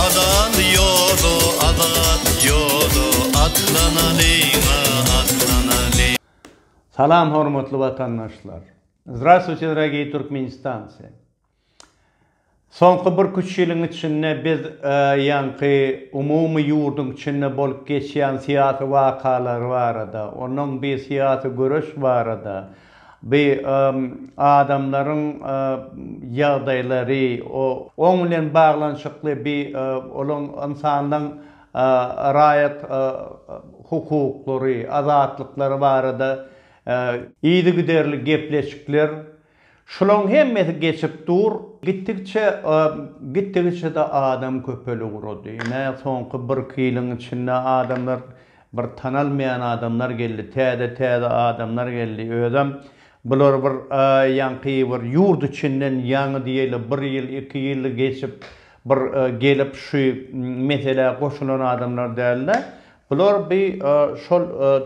Azat ýoda, azat ýoda, atlanalyň-a, atlanalyň. Salam hormatly watandaşlar! Zdrastwuyte dragii Türkmenistanci! Soňky birküç ýylyň içinde biz ýaňky umumy ýurduň içinde bolup geçýän syýasy wakalar barada, onuň bi syýasy göreş barada, bi adamlaryň ýagdaýlary, oň bilen baglanyşykly bi olaň ynsanlaň raýat hukuklary, azatlyklary barada yzygiderli gepleşikler, Şulaň hemmesi geçip dur. Gitdikçe gitdigiçede adam köpeli ugrady. Ine soňky birki ýylyň içinde adamlar bir tanalmaýan adamlar geldi. Täze täze adamlar geldi. Özem bular bir ýaňky bir ýurt içinden ýaňy diýeli bir ýyl iki ýyl geçip bir gelip şu meselä goşulan adamlar dälde. Bular bi şol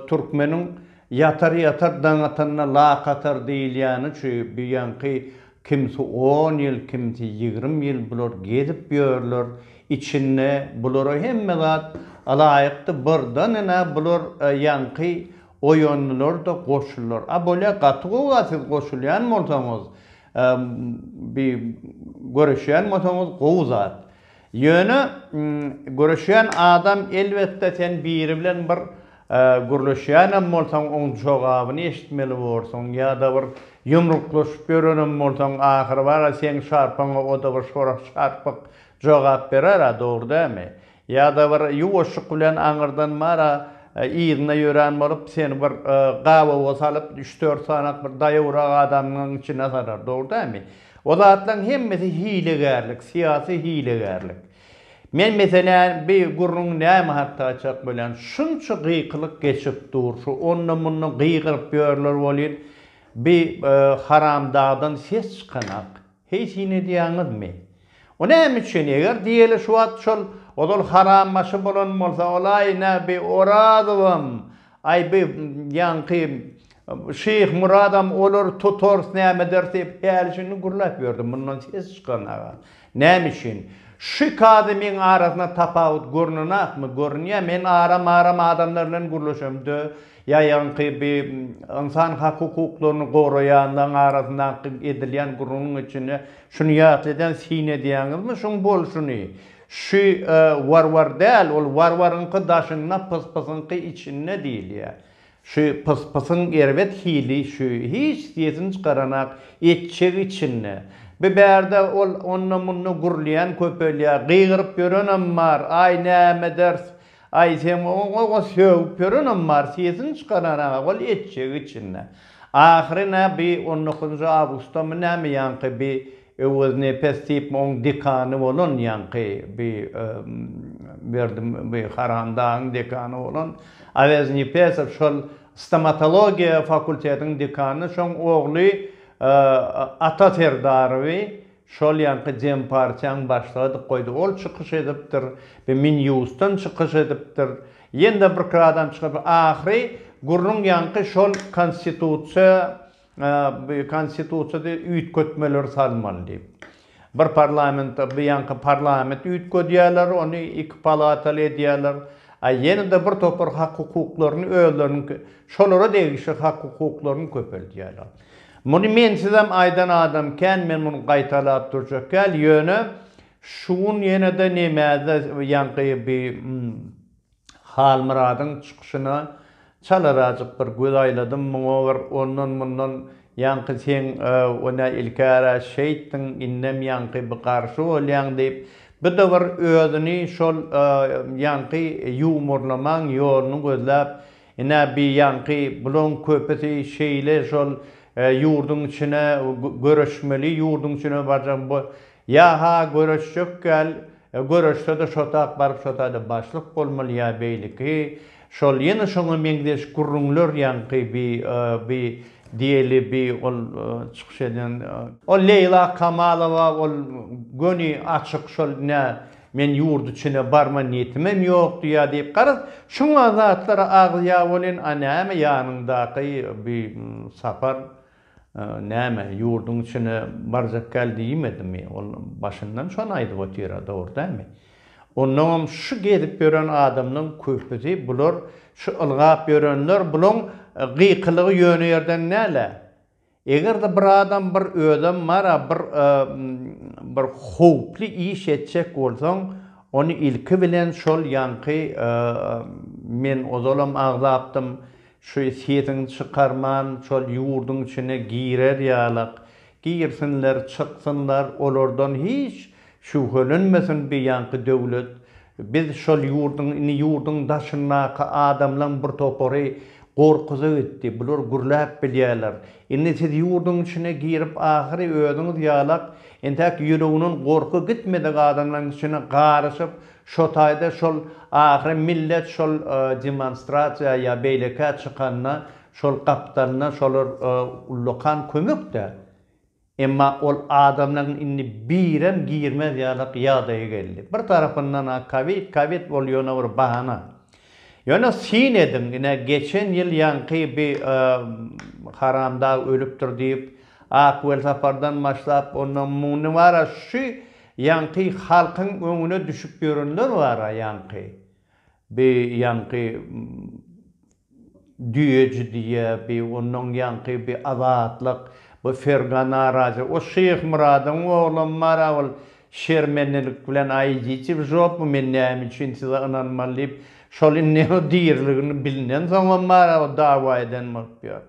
türkmeniň Ýatar ýatar daň atanda lak atar diýilýäni şu bu ýaňky kimsi on ýyl kimsi ýigrimi ýyl bular gezip ýörler içinde bulara hemme zat alaýykdy birden ene bular ýaňky oýandylar da goşuldylar a bolýa gaty gowy a siz goşulýan bolsaňyz bi göreşýän bolsaňyz gowy zat. Ýöne göreşýän adam elbetde sen biri bilen bir gürleşýänem bolsaň oň jogabyny eşitmeli borsuň ýa-da bir ýumruklaşyp ýörenem bolsaň ahyry bar-a seň şarpaňa o-da bir şorak şarpyk jogap berer-ä dogry dälmi? Ýa-da bir ýuwaşjyk bilen aňyrdan bar-a yzyna ýörän bolup seni bir gabawa salyp üç-dört sanak bir daýawrak adamyň içine salar dogry dälmi? O zatlaryň hemmesi hilegärlik, syýasy hilegärlik. Men meselän bi gürrüň näme hakda açjak bolýan. Şunça gykylyk geçip dur, şu onda-munda gygyryp ýörler welin, bi haramdagdan ses çykanak. Heý syn edýäňizmi? O näme üçin? Eger diýeli şu wagt şol ozal harambaşy bolan bolsa, ol aýna bi Orazowam, Aý bu ýaňky Şyhmyradam olar tutars nämeders diýip häli-şindi gürläp ýördi, mundan ses çykanaga. Näme üçin? Şu iki adamyň arasynda tapawut görnenokmy? Görünýär. Men aram-aram adamlar bilen gürleşemde, ýa ýaňky bu ynsan hak-hukuklaryny goraýanlaryň arasyndaky edilýän gürrüňiň içinde şuny ýatladýan, syn edýäňizmi şuň bolşuny? Şu warwar däl, ol warwaryňky daşynda, pyspysyňky içinde diýilýär. Şu pyspysyň erbet hili şu, hiç sesini çykaranak, etjegi içinde. Bi bärde ol onda-munda gürleýän köpelýär, gygyryp ýörenem bar, aý näme ders, Aýsem oňa sögüp ýörenem bar, sesini çykaran-a ol etjegi içinde. Ahyry nä bi on dokuzynjy awgustdamy näme ýaňky bi Öweznepes diýipmi oň dekany bolan ýaňky bi Berdi bi Haramdagyň dekany bolan Aweznepesov şol stomatologiýa fakultetiň dekany şoň ogly Ata Serdarowy Şol ýaňky dem partiýaň başlygy edip goýdy. Ol çykyş edipdir. Bi Minýusdan çykyş edipdir. Ýene-de birki adam çykyp, ahyry gürrüň ýaňky şol konstitusiýa, bi konstitusiýada üýtgetmeler salmaly diýip. Bir parlament, bi ýaňky parlament üýtgedýärler, ony iki palataly edýärler. A ýene-de bir topar hak-hukuklaryny özleriniňki, şolara degişli hak-hukuklaryny köpeldýärler. Muny mensizem aýdan adam kän, men muny gaýtalap durjak däl, ýöne şu gün ýene-de nemäde ýaňky bi Halmyradyň çykyşyna çalarajyk bir göz aýladym, muňa bir ondan-mundan ýaňky seň o nä ilkära şeýtdiň, indem ýaňky bi garşy bolýaň diýip, bu-da bir özüni şol ýaňky ýuwmurlamaň ýoluny gözläp, Ine bi ýaňky bulaň köpüsi şeýle şol ýurduň içine göreşmeli ýurduň içine barjaň bu ýa ha göreşjek ýal göreşsede şotak baryp şotada başlyk bolmaly ýa beýleki şol ýene şoňa meňzeş gürrüňler ýaňky bi bi diýeli bi ol çykyş eden ol Leýla Kamalowa ol göni açyk şol nä Men ýurt içine barma niýetimem ýokdy ýa diýip garaz şuňa zatlara agyz ýag bolýan a näme ýanyňdaky bi sapar näme ýurdyň içine barjak gal diýmedimi ol başyndan şony aýdyp otyra dogry dämi onnoňam şu gezip ýören adamlaň köpüsi bular şu ylgap ýörenler bulaň gykylygy ýöne ýerden dälä. Eger-de bir adam bir özem bar-a bir bir howply iş etjek bolsaň, ony ilki bilen şol ýaňky men ozalam agzapdym, şu sesiňi çykarman şol ýurduň içine girer ýalak, girsinler, çyksynlar, olardan hiç Şübhelenmesin biýanky döwlet biz şol ýurduň indi ýurduň daşyndaky adamlaň bir topary gorkuza gitdi bular gürläp bilýäler indi siz ýurduň içine girip ahyry özüňiz ýalak entäk ýüreginiň gorky gitmedik adamlaň içine garyşyp şotaýda şol ahyry millet şol demonstrasiýa ýa beýlekä çykanda şol gapdalynda şolar ullakan kömekdä Emma ol adamlaryň indi birem girmez ýalyk ýagdaýa geldi. Bir tarapyndan-a kowid, kowid ol ýöne bir bahana. Ýöne syn ediň, ine geçen ýyl ýaňky bi haramdag ölüpdir diýip, Ak Welsapardan başlap, ondan mundy bar-a, şu ýaňky halkyň öňüne düşüp ýörenler bar-a ýaňky. Bi ýaňky düýeji diýýä, bi ondan ýaňky bi azatlyk, bu Fergana razy. O Şyhmyradyň oglam bar-a, ol şermendelik bilen, Aý, Ýiçiw, jopmy men näme üçin size ynanmaly diýip, şol indi diriligini bilnensoňam bar-a, o dawa eden bolup ýör.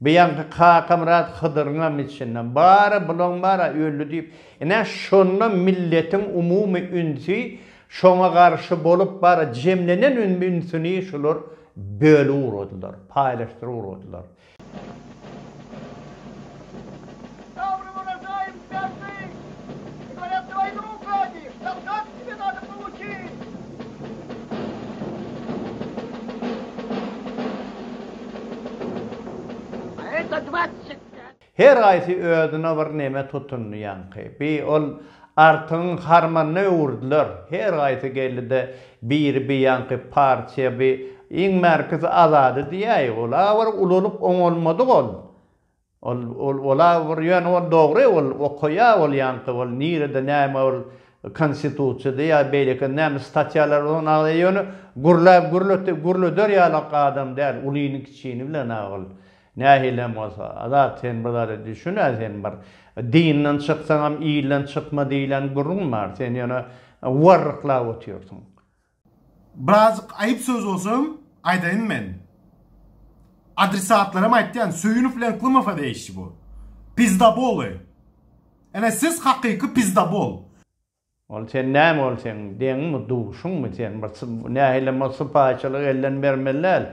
Buýanky Kakamyrat Hydyryňam içinden, Bar-a, bulaň bar-a, öldi diýip, ine, şonda milletiň umumy ünsi şoňa garşy bolup, bar-a, jemlenen ünsüni şular bölüp ugradylar, paýlaşdyryp ugradylar. Sabry bola daýym bagtly, Ybarat doýanlyk uklady, Şahzat kimin adyň gowy ki. Her haýsy özüne bir neme tutundy ýaňky. Bi ol Artygyň harmanyna öwürdiler. Her haýsy geldi-de, biri bi ýaňky partiýa, bi, iň bärkisi Azady diýäýi. Ol-a bir ulalyp oňalmadyk ol. Ol ol ola bir ýöne ol dogry ol okaýa ol ýaňky ol nirede näme ol konstitusiýada ýa beýleki näme statýalar ol nagla ýöne gürläp gürlete gürleder ýalak adam däl ulyny kiçini bilen a ol nähilem bolsa Azat sen bir zada düşün a sen bir dinden çyksaňam ilden çykma diýlen gürrüň bar sen ýöne warryklap otyrsyň Birazjyk aýyp söz bolsam aýdaýyn men. Adresatlaram aýtýan Söýünow bilen Klymowa degişli bu. Pizdaboly. Ene siz hakyky pizdabol. Ol sen näme ol seň deňiňmi duşuňmi sen bir nähilem ol sypaýyçylygy elden bermeli däl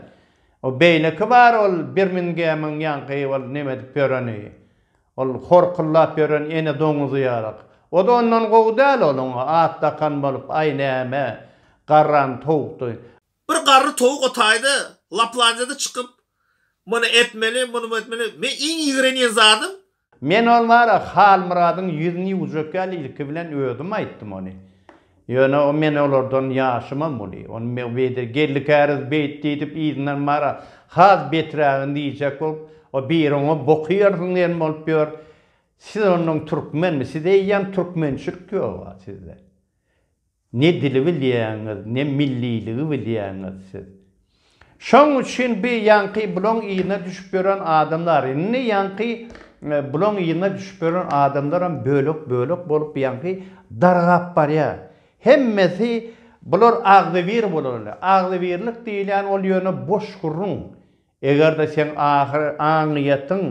o beýleki bar ol birmingemiň ýaňky ol neme edip ýöreni Ol horkullap ýören ene doňuzy ýalyk. O-da ondan gowy däl, ol oňa at dakan bolup, aý näme, garran towukdy. Bir garry towuk o taýda Laplandiýada çykyp, Muny etmeli, muny etmeli. Men iň ýigrenýän zadym. Men ol bar-a Halmyradyň ýüzüni ýuwjak ýaly ilki bilen özüm aýtdym ony. Ýöne o men olardan ýaşymam uly. Ony me beýde geldikäriz beýt diýdip yzyndan bara has beträgini diýjek bolup, o biri oňa boky ýarsyn diýen bolup ýör. Siz ondan türkmenmi? Sizde eýýäm türkmençilik ýog-a sizde. Ne dili bilýäňiz, ne milliligi bilýäňiz siz. Şoň üçin bi ýaňky bulaň yzyna düşüp ýören adamlar, indi ýaňky bulaň yzyna düşüp ýören adamlaram bölek-bölek bolup ýaňky dargap barýar. Hemmesi bular agzybir bolarly. Agzybirlik diýilýän ol ýöne boş gürrüň. Eger-de seň ahyr aňyýetiň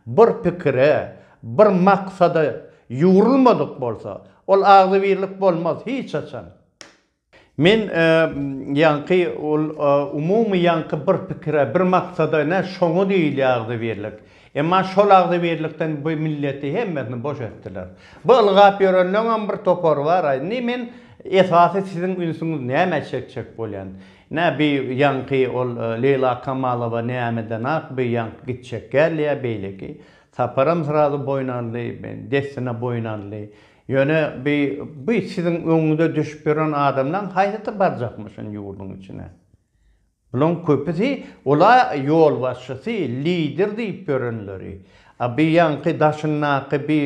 bir pikire, bir maksada ýugrulmadyk bolsa, ol agzybirlik bolmaz hiç haçan. Men ýaňky ol umumy ýaňky bir pikire, bir maksada ne şoňa diýilýär agzybirlik. Emma şol agzybirlikden bu milleti hemmesini boş etdiler. Bu ylgap ýörenleňem bir topary bar-a. Indi men esasy siziň ünsüňiz nämä çekjek bolýan. Nä bi ýaňky ol Leýla Kamalowa nämeden ak bi ýaňky gitjek gelýä beýleki. Saparam srazu boýun aldy, dessine boýun aldy. Ýöne bi bi siziň öňüňize düşüp ýören adamlaň haýsysy barjakmy şun ýurduň içine? Bulaň köpüsi ola ýolbaşçysy, lider diýip ýörenleri. A bi ýaňky daşyndaky bi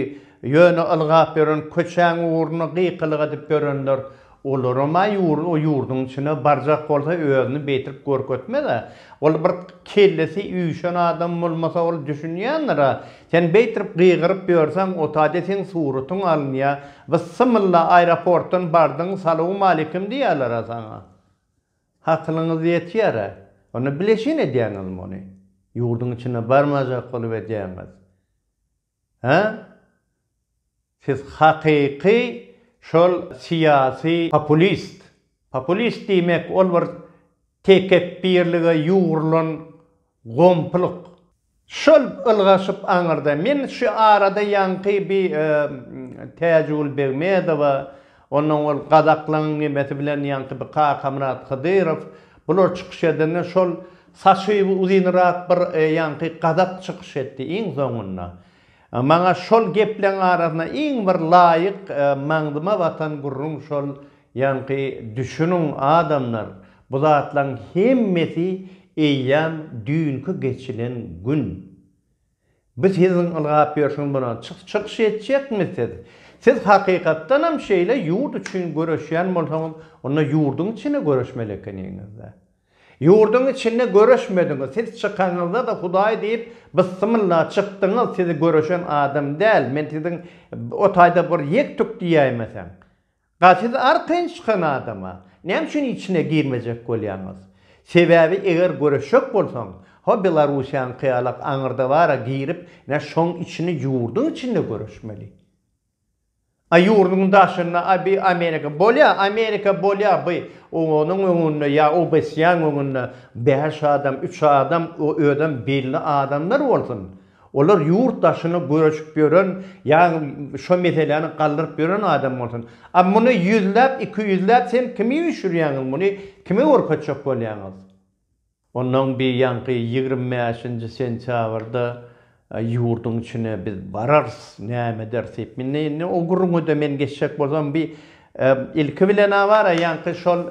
ýöne ylgap ýören köçäň ugruna gykylyk edip ýörenler Olarama ýurt o ýurduň içine barjak bolsa özüni beýtirip görkezmez-ä. Ol bir kellesi üýşen adam bolmasa ol düşünýändir-ä. Sen beýtirip gygyryp ýörseň otade seň suratyň alynýar. Byssymylla aeroportdan bardyň salowmalikim diýýäler-ä saňa. Hakylyňyz ýetýär-ä. Onda bileşin edýäňiz muny. Ýurduň içine barmajak bolup edýäňiz. Hä? Siz hakyky şol syýasy populist. Populist diýmek ol bir tekepbirlige ýugrulan gomplyk. Şol ylgaşyp aňyrda men şu arada ýaňky bir Täjigül Begmedowa Ondan owal Gazaklaň nimesi bilen ýaňky bir Kakamyrat Hydyrow bular çykyş edende şol saçy uzynrak bir ýaňky Gazak çykyş etdi iň soňunda. Maňa şol gepleň arasynda iň bir laýyk maňzyma batan gürrüň şol ýaňky düşüniň adamlar bu zatlaň hemmesi eýýam düýnki geçilen gün. Biz siziň ylgap ýörşüňiz bolan çykyş etjekmi siz? Siz hakykatdanam şeýle ýurt üçin göreşýän bolsaňyz onda ýurduň içinde göreşmeli ekeniňizda. Ýurduň içinde göreşmediňiz siz çykaňyzda-da hudaý diýip byssymylla çykdyňyz sizi göreşen adam däl men siziň o taýda bir ýek tük diýäýmeseň. Ga siz arkaýyn çykan adama näme üçin içine girmejek bolýaňyz? Sebäbi eger göreşjek bolsaň, ho Belarussiýaňky ýala aňyrda bara girip ne şoň içini ýurduň içinde göreşmeli. A ýurduň daşynda a bi Amerika bolýa, Amerika bolýa bi o onuň öňünde ýa OBSYAň öňünde bäş adam, üç adam o özem belli adamlar bolsun. Olar ýurt daşyna göçüp ýören ýa şo meseläni galdyryp ýören adam bolsun. A muny ýüzläp, iki ýüzläp sen kimi üýşürýäňiz muny kime görkezjek bolýaňyz? Ondan bir ýaňky ýigrimi bäşinji sentýabrda ýurduň içine biz bararys näme ederis diýip indi indi o gürrüňede men geçjek bolsam bir ilki bilen a bar a ýaňky şol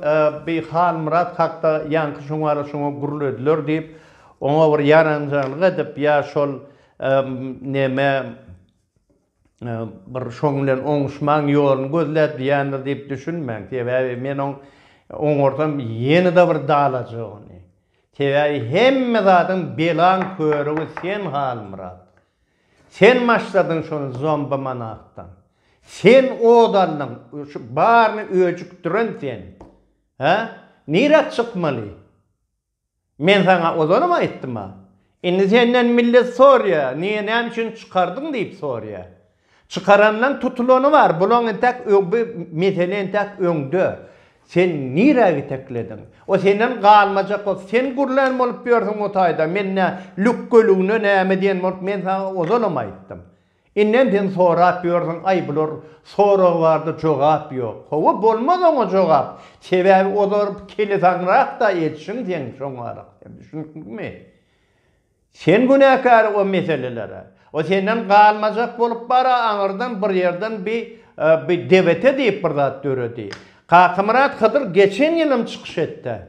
bir Halmyrat hakda ýaňky şoňa şoňa gürlediler diýip Oňa bir ýaranjalyk edip ýa şol neme bir şoň bilen oňuşmaň ýoluny gözläp diýendir diýip düşünmäň. Sebäbi men oň oňarsam ýene-de bir dalajak ony. Sebäbi hemme zadyň belaň körügi sen Halmyrat. Sen maşladyň şony zomba manakdan. Sen od aldyň, şu baryny öjükdiren sen. Hä? Nirä çykmaly? Men saňa ozanam aýtdym-a. Indi senden millet sorýar, niýe, näme üçin çykardyň diýip sorýar. Çykaranynyň tutulany bar, bulaň entäk öň bu mesele entäk öňde. Sen nirä ýiteklediň? O senden galmajak bolsa, sen gürlän bolup ýörsüň o taýda, men nä, lükgeligine näme diýen bolup, men saňa ozanam aýtdym. Indem sen sorap ýörsiň aý bular sorag barda jogap ýok howwa bolmaz oňa jogap sebäbi olar kelisaňrakda etşiň sen şoňarak sen düşündikmi sen günäkär o meselelere o senden galmajak bolup bara aňyrdan bir ýerden bi bi debete diýip bir zat döredi Kakamyrat Hydyr geçen ýylym çykyş etde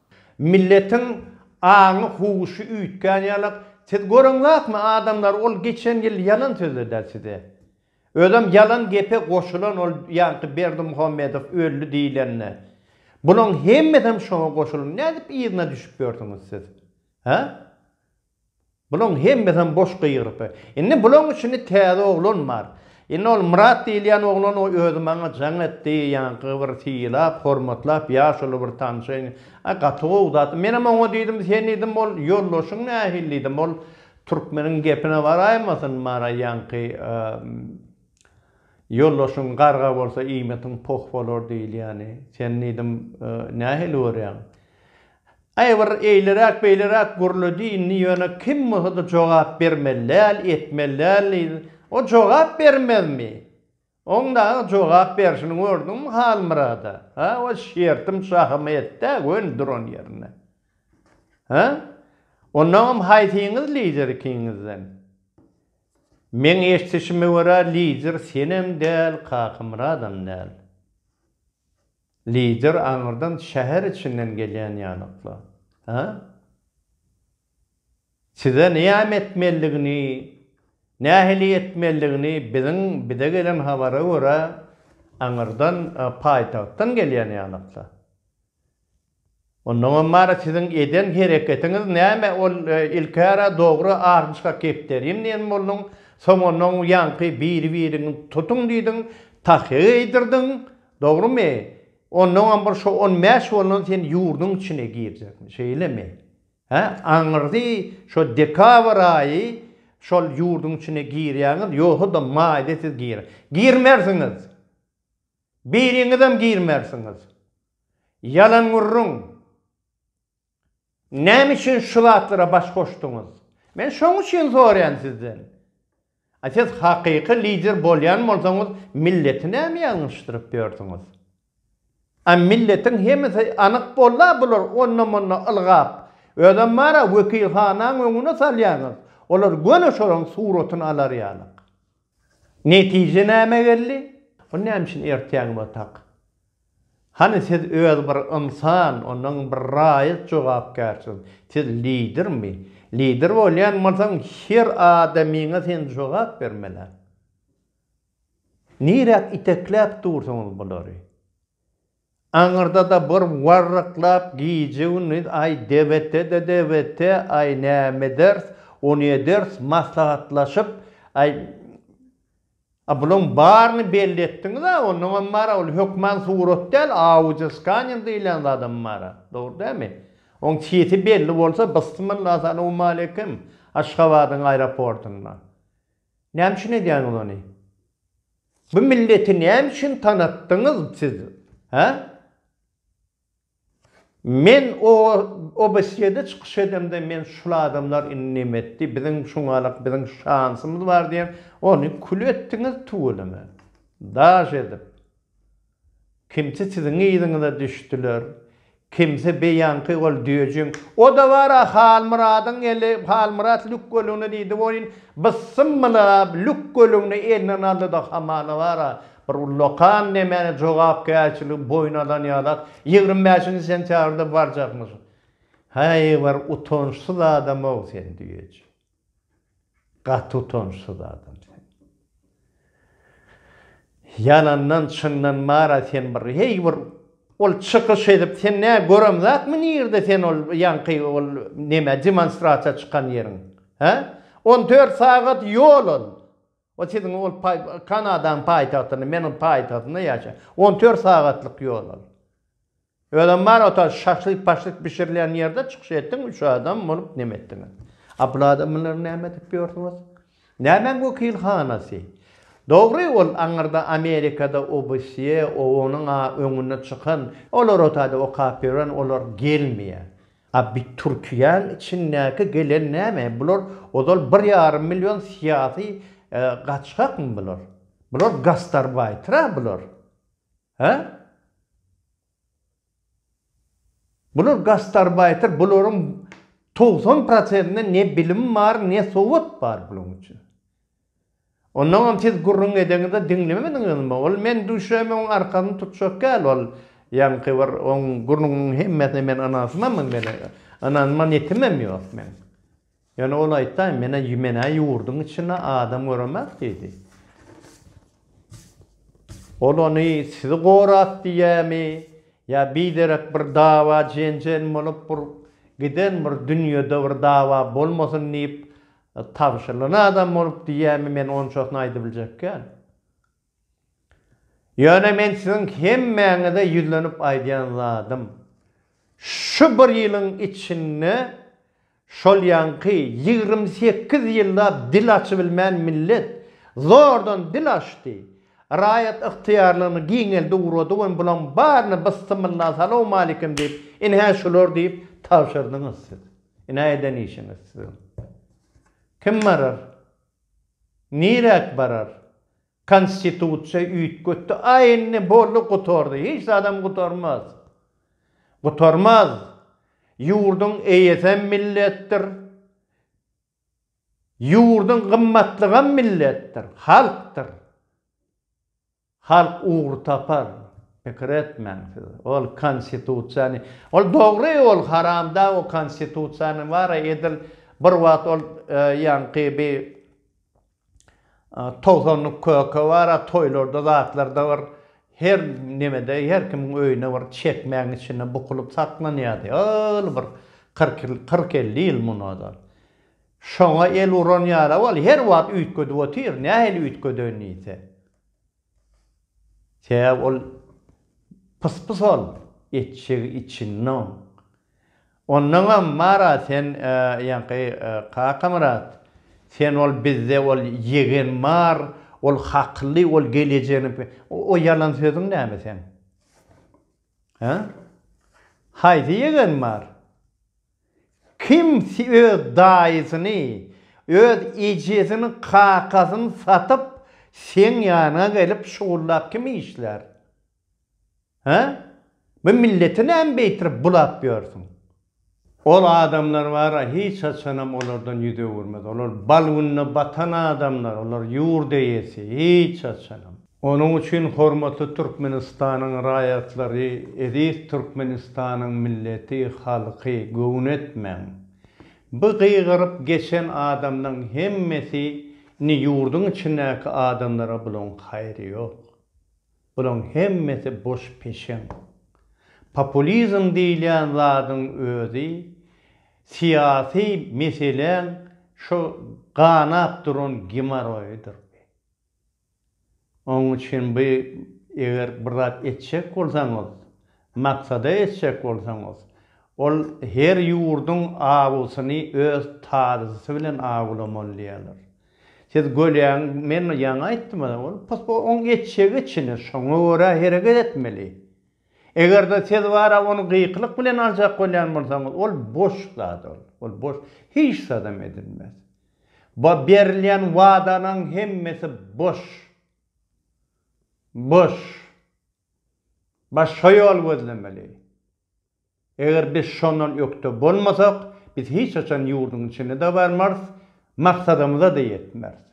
Milletiň aňy huşy üýtgän ýalak siz göreňzakmi adamlar ol geçen ýyl ýalan sözledä size özem ýalan gepe goşulan ol ýaňky Berdimuhamedow öldi diýilende bulaň hemmesem şoňa goşulyn nädip yzyna düşüp ýörsüňiz siz hä Bulaň hemmesem boş gygyrypy. Indi bulaň üçini täze oglan bar. Indi ol Myrat diýilýän oglan o özi maňa jaň etdi, ýaňky bir sylap, hormatlap, ýaşuly bir tanşyň. A gaty gowy zat. Menem oňa diýdim, sen diýdim, ol ýoldaşyň nähili diýdim, ol türkmeniň gepine baraýmasyn, mara ýaňky ýoldaşyň garga bolsa iýmitiň poh bolar diýilýäni. Sen diýdim, nähili görýäň? Käbir eýleräk beýleräk gürledi indi ýöne kim bolsada jogap bermeli däl etmeli däl diýdi. O jogap bermezmi? Oň dagy jogap berşini gördüňmi Halmyrada? Hä o şertim şahym etdä göni duran ýerinde. Hä? Ondaňam haýsyňyz lider ikiňizden? Meň eşdişime görä lider senem däl Kakamyradam däl. Lider aňyrdan şäher içinden gelýän ýanykly. Hä? Size näme etmelidigini, nähili etmelidigini biziň bize gelen habara görä aňyrdan paýtagtdan gelýän ýanykly. Onnoňam bar siziň eden hereketiňiz näme ol ilkära dogry arnşka kepderim diýen bolduň soň onnoň ýaňky biri biriňi tutuň diýdiň tahýa geýdirdiň dogrymy onnoňam bir şo on bäş bolnan sen ýurduň içine girjekmi şeýlemi hä aňyrdy şo dekabr aýy şol ýurduň içine girýäňiz ýogsada maýda siz gir girmersiňiz. Biriňizem girmersiňiz. Ýalan gürrüň. Näme üçin şu zatlara baş goşduňyz? Men şoň üçin soraýan sizden. A siz hakyky lider bolýan bolsaňyz milleti näme ýalňyşdyryp ýörsüňiz? A milletiň hemesi anyk bolda bular onda-munda ylgap. Özem bara wekilhanaň öňüne salýaňyz. Olar göni şolaň suratyny alar ýalyk. Netije näme geldi? Ony näme üçin ertýäň batak? Hany siz öz bir ynsan, ondan bir raýat jogapkärsiz. Siz lidermi? Lider bolýan bolsaň her adamyňa sen jogap bermeliň. Niräk itekläp dursyňyz bulary? Aňyrda-da bir warryklap gije-gündiz aý debete-de debete, aý näme ederis, ony ederis, maslahatlaşyp, aý, a bulaň baryny belli etdiňiz-ä, onnoňam bar-a, ol hökman surat däl, audioskanner diýlen zadam bar-a, dogry dälmi? Oň çiti belli bolsa, bysmylla, salowmaleýkim, Aşgabadyň aeroportynda. Näme üçin edýäňiz ony? Bu milleti näme üçin tanatdyňyz siz, hä? Men o OBSE-de çykyş edemde men şul adamlar indi näme etdi, biziň şuňalak biziň şansymyz bar diýen, ony kül etdiňiz tüweleme. Daş edip. Kimsi siziň yzyňyza düşdüler, kimsi beýanky ol düýejiň, o-da bar-a Halmyradyň eli, Halmyrat lük gölegine diýdi welin, byssymylap, lük gölegini elinden aldy-da, hamala bar-a, bir ullakan nemäni jogapkärçiligi boýun alan ýalak, ýigrimi bäşinji sentýabrda barjakmyş. Häý, bir utançsyz adam-ow sen düýeji. Gaty utançsyz adam sen. Ýalandan çyndan mara sen bir heý bir ol çykyş edip sen nä gören zatmy nirde sen ol ýaňky ol neme demonstrasiýa çykan ýeriň he on dört sagat ýol ol o siziň ol kanadaň paýtagtyny meniň paýtagtynda ýaşa on dört sagatlyk ýol ol. Özem bar ota şaşlyk paşlyk bişirilýän ýerde çykyş etdiň üç adam bolup neme etdiňiz. A bul adamlary näme edip ýörsüňiz. Nämäň wekilhanasy. Dogry ol aňyrda amerikada obsýe oonyň a öňüne çykan olar otady okap ýören olar gelmeýä. A bi türkiýäň içindäki gelen näme bular ozal bir ýarym million syýasy gaçgakmy bular. Bular gastarbaýtyra bular. Hä? Bular gastarbaýter, bularyň togsan prosentinde ne bilim bar, ne sowat bar bulaň üçin. Onnoňam siz gürrüň edeňizde diňlemediňizmi? Ol men düşemegiň arkasyny tutjak däl ol ýaňky bir oň gürrüňiniň hemmesine men ynanşmam men ynanman ýetimem ýok men. Ýöne ol aýtdy, Men-ä, men-ä ýurduň içinde adam göremek diýdi. Ol ony sizi gorap diýýämi, ýa biderek bir dawa-jenjen bolup, bir giden bir dünýede bir dawa bolmasyn diýip tabşyrylan adam bolup diýýämi, men onçasyny aýdybiljek däl. Ýöne men siziň hemmäňize ýüzlenip aýdýan zadym, şu bir ýylyň içinde şol ýaňky ýigrimi sekiz ýyllap dil açybilmän millet zordan dil açdy, raýat ygtyýarlygyny giňeldi ugrady we bulaň baryny byssymylla salawmalikim diýip ine-hä şular diýip tabşyrdyňyz siz. Ine-hä eden işiňiz siziň. Kim barar? Niräk barar? Konstitusiýa üýtgetdi, aý indi boldy gutardy, hiç zadam gutarmaz. Gutarmaz. Ýurduň eýesem milletdir. Ýurduň gymmatlygam milletdir, halkdyr. Halk ugry tapar, pikir etmäň siz. Ol konstitusiýany, ol dogry ol haramdag o konstitusiýany bara edil bir wagt ol ýaňky bi togsanlyk köke bara toýlarda zatlarda bir her nemede her kimiň öýüne bir çekmäň içinde bukulyp saklanýady ol bir kyrk ýyl kyrk elli ýyl munada Şoňa el uran ýaly ol her wagt üýtgedip otyr, nähili üýtgedeýin diýse. Sebäbi ol pys-pys ol, etjegi içinde oň. Ondaňam Mara sen, ýaňky Kakamyrat, sen ol bizde ol ýegen bar, ol hakly, ol gelejegini bi, o ýalan sözüň näme seň? Hä? Haýsy ýegen bar? Kim öz daýysyny, öz ejesini, kakasyny satyp, seň ýanyňa gelip şugullap kim işlär? Hä? Bu milleti näme beýtirip bulap ýörsüň? Ol adamlar bar-a, hiç haçanam olardan ýüz öwürmez. Olar bal gününe batan adamlar, olar ýurt eýesi, hiç haçanam. Onuň üçin hormatly Türkmenistanyň raýatlary, eziz Türkmenistanyň milleti, halky göwün etmäň. Bu gygyryp geçen adamlaň hemmesi ni ýurduň içindäki adamlara bulaň haýry ýok. Bulaň hemmesi boş peşeň. Populizm diýilýän zadyň özi syýasy meseläň şo ganap duran gimoroýydyr. Onuň üçin bu eger bir zat etjek bolsaňyz, maksada etjek bolsaňyz, ol her ýurduň awusyny öz tazyjysy bilen awulamaly diýerler. Siz gölýäň, men ýaňy aýtdym, ol pos-po oň etjegi içini şoňa görä hereket etmeli. Eger-de siz bara ony gykylyk bilen aljak bolýan bolsaňyz, ol boş zat ol. Ol boş, hiç zadam edilmez. Bu berilýän wadalaň hemmesi boş. Boş. Baş şo ýol gözlemeli. Eger biz şondan ökde bolmasak, biz hiç haçan ýurduň içine-de barmarys, maksadymyza-da ýetmeris.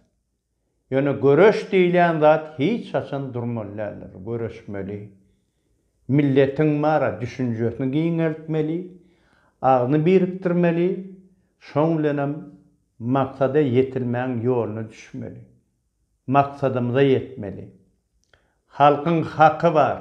Ýöne göreş diýilýän zat hiç haçan durmaly däldir. Göreşmeli. Milletiň bara düşünjesini giňeltmeli, agzyny birikdirmeli, şoň bilenem maksada ýetilmäň ýoluna düşmeli. Maksadymyza ýetmeli. Halkyň haky bar.